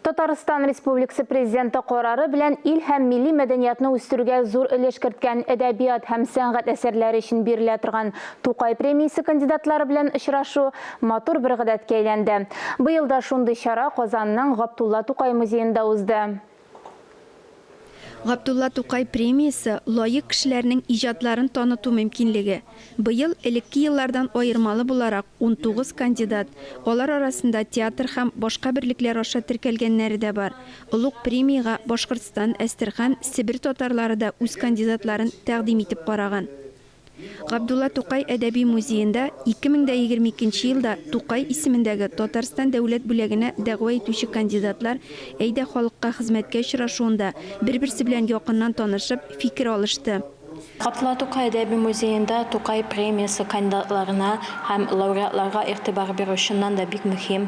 Татарстан Республикасы Президенты карары белән ил һәм милли мәдәниятны үстерүгә зур өлеш керткән әдәбият һәм сәнгать әсәрләре өчен бирелә торган Тукай премиясе кандидатлары белән очрашу матур бер гадәткә әйләнде. Быел да шундый чара Казанның Габдулла Тукай музеенда узды. Габдулла Тукай премиясе, лаек кешеләрнең иҗатларын таныту мөмкинлеге. Быел, элекке еллардан аермалы буларак, унтугыз кандидат, алар арасында театр һәм башка берлекләр аша теркәлгәннәре дә бар. Олуг премиягә Башкортстан, Әстерхан, Себер татарлары да үз кандидатларын тәкъдим итеп караган. Габдулла Тукай әдәби музеенда 2022 нче елда Тукай исемендәге Татарстан Дәүләт бүләгенә дәгъва итүче кандидатлар Әйдә халыкка хезмәткә очрашуында бер-берсе белән якыннан танышып, фикер алышты. Габдулла Тукай әдәби музеенда Тукай премиясе кандидатларына һәм лауреатларга игътибар бирү чыннан да бик мөһим.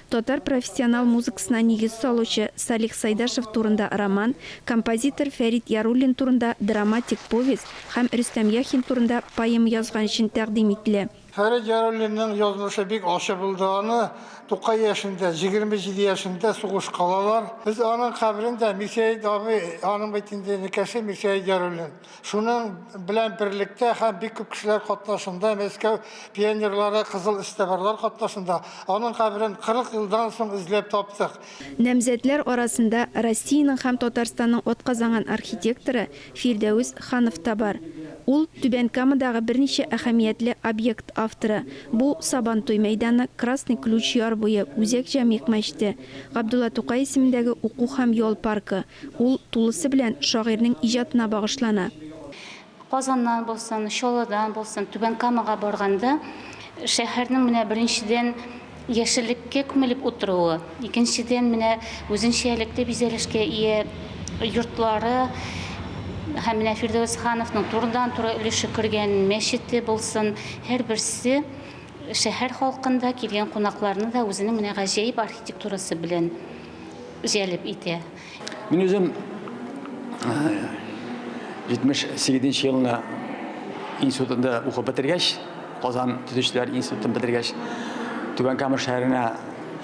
Татар профессионал музыкасына нигез салучы Салих Сайдашев турында роман, композитор Фәрит Яруллин турында драматик повесть һәм Рөстәм Яхин турында поэма язган өчен тәкъдим ителә. Фәрит Яруллинның язмышы бик ачы булды, аны тукай яшендә, җигерме җиде яшендә сугышка алалар. Без аның каберен дә, Мирсәет абый, аның бит инде энекәше Мирсәет Яруллин, Шуның белән берлектә һәм бик күп кешеләр катнашында Мәскәү пионерлары кызыл эзтәбарлар катнашында аның каберен 40 елдан соң эзләп таптык. Намзәтләр арасында Россиянең һәм Татарстанның атказанган архитекторы Фирдәүс Ханов та бар. Ул, Түбән Камадагы берничә әһәмиятле объект авторы, бу, Сабантуй мәйданы, Красный Ключ яр буе, Үзәк Җәмигъ мәчете, Габдулла Тукай исемендәге уку һәм ял паркы, Ул тулысы белән шагыйрьнең иҗатына багышлана. Казаннан булсын, Чаллыдан булсын Түбән Камага барганда, шәһәрнең менә беренчедән яшеллеккә күмелеп утыруы, икенчедән менә үзенчәлекле бизәлешкә ия йортлары һәм менә Фирдәвес хановның турыдан-туры өлеше кергән мәчете булсын, һәрберсе шәһәр халкын да, килгән кунакларны да үзенең менә гаҗәеп архитектурасы белән җәлеп итә. Мин үзем 78 нче елны институтында укып бетергәч, Казан төзүчеләр институтын бетергәч, Түбән Кама шәһәренә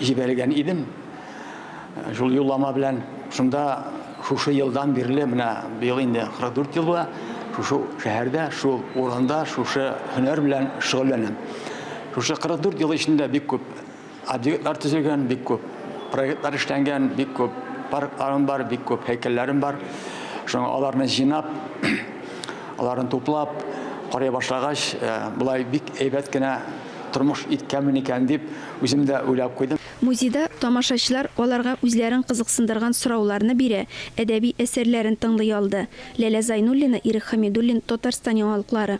җибәрелгән идем. Шул юллама белән шунда шушы елдан бирле, менә быел инде 44 ел була, шушы шәһәрдә, шул урында, шушы һөнәр белән шөгыльләнәм. Шушы 44 ел эчендә бик күп Объектлар төзелгән бик күп, проектлар эшләнгән бик күп, паркларым бар, бик күп һәйкәлләрем бар. Шуңа аларны җыйнап, аларны туплап карый башлагач, э, болай бик әйбәт кенә тормыш иткәнмен икән дип, үзем дә уйлап куйдым. Музейда тамашачылар аларга үзләрен кызыксындырган сорауларны бирә, әдәби әсәрләрен тыңлый алды. Ләлә Зайнуллина, Ирек Хәмидуллин, Татарстан яңалыклары.